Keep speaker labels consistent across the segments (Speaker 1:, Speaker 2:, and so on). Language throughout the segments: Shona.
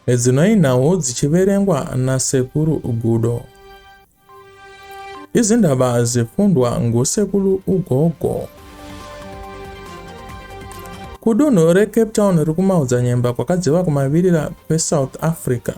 Speaker 1: Edzinoi nhau dzichiverengwa nasekuru Gudo. Izindaba zifundwa ngosekuru Ugogo. Kudunhu reCape Town riri kumaodzanyemba kwakadziva kumavirira kweSouth Africa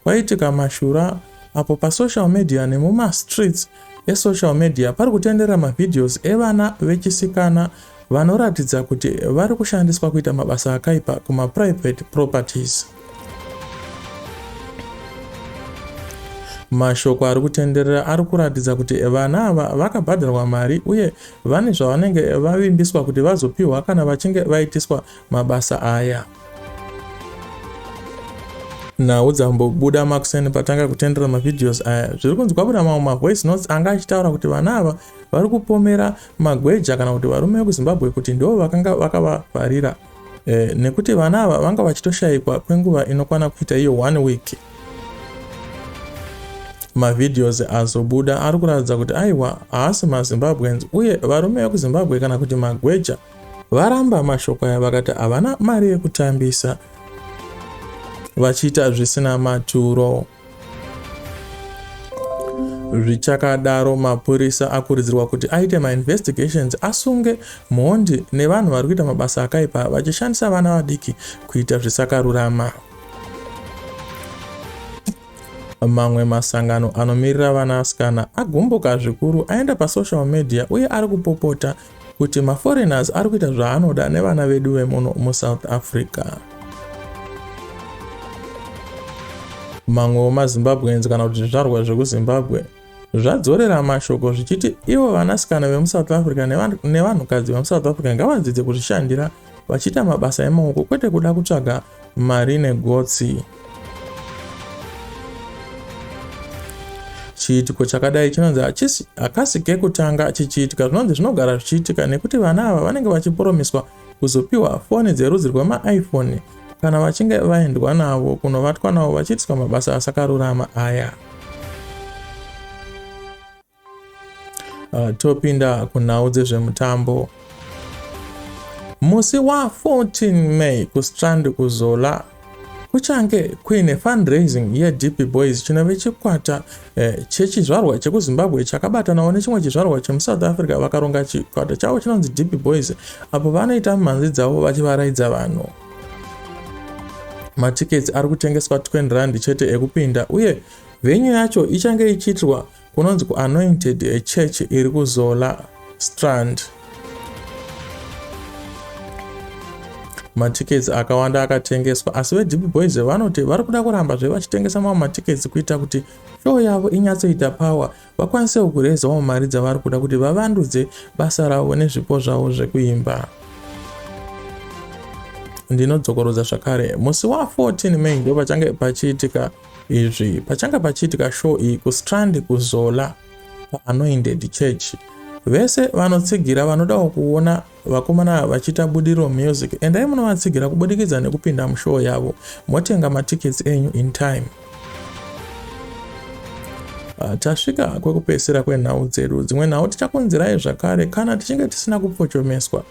Speaker 1: kwaitika mashura apo pasocial media nemumastreets esocial media pari kutendera mavideos evana vechisikana vanoratidza kuti vari kushandiswa kuita mabasa akaipa kumaprivate properties mashoko ari kutenderera ari kuratidza kuti vana ava vakabhadharwa mari uye vane zvavanenge vavimbiswa kuti vazopiwa kana vachinge vaitiswa mabasa aya. nhau dzambobuda makuseni patanga kutendera mavideos aya zviri kunzi kwabuda mamwe mavoice notes anga achitaura kuti vana ava vari kupomera magweja kana kuti varume vekuzimbabwe kuti ndivo vakanga vakavavharira e, nekuti vana ava vanga vachitoshayikwa kwenguva inokwana kuita iyo one week mavideos azobuda ari kuratidza kuti aiwa haasi mazimbabweans uye varume vekuzimbabwe kana kuti magweja Varamba mashoko aya vakati havana mari yekutambisa vachiita zvisina maturo. Zvichakadaro, mapurisa akurudzirwa kuti aite mainvestigations asunge mhondi nevanhu vari kuita mabasa akaipa vachishandisa vana vadiki kuita zvisakarurama. Mamwe masangano anomirira vanasikana agumbuka zvikuru aenda pasocial media uye ari kupopota kuti maforeigners ari kuita zvaanoda nevana vedu vemuno musouth africa mamwewo mazimbabweans kana kuti zvizvarwa zvekuzimbabwe zvadzorera mashoko zvichiti ivo vanasikana vemusouth africa nevanhukadzi vemusouth africa ngavadzidze kuzvishandira vachiita mabasa emaoko kwete kuda kutsvaga mari negotsi chiitiko chakadai chinonzi hachisi hakasi kekutanga chichiitika zvinonzi zvinogara zvichiitika nekuti vana ava vanenge vachiporomiswa kuzopiwa foni dzerudzi rwemaiphone kana vachinge vaendwa navo kunovatwa navo vachiitiswa mabasa asakarurama aya Uh, topinda kunhau dzezvemutambo musi wa14 may kustrand kuzola kuchange kuine fundraising yedp boys chinove chikwata eh, chechizvarwa chekuzimbabwe chakabatanawo nechimwe chizvarwa chemusouth africa vakaronga chikwata chavo chinonzi dp boys apo vanoita mhanzi dzavo vachivaraidza vanhu matikets ari kutengeswa 20 rand chete ekupinda uye venyu yacho ichange ichiitirwa Kunonzi ku anointed a church iri ku Zola Strand. Matickets akawanda akatengeswa asi veDP Boys vanoti vari kuda kuramba zve vachitengesa mamwe matickets kuita kuti show yavo inyatsoita power vakwanisewo kurezawo mari dzavari kuda kuti vavandudze basa ravo nezvipo zvavo zvekuimba. Ndinodzokorodza zvakare musi wa 14 May ndopachange pachiitika Izvi pachanga pachiitika show iyi kuStrand kuZola paAnointed Church. Vese vanotsigira vanodawo kuona vakomana vachiita budiriro music endai munovatsigira kubudikidza nekupinda mushow yavo motenga matickets enyu in time. Ah, tasvika kwekupedzisira kwenhau dzedu dzimwe nhau tichakonzerai zvakare kana tichinge tisina kupfochomeswa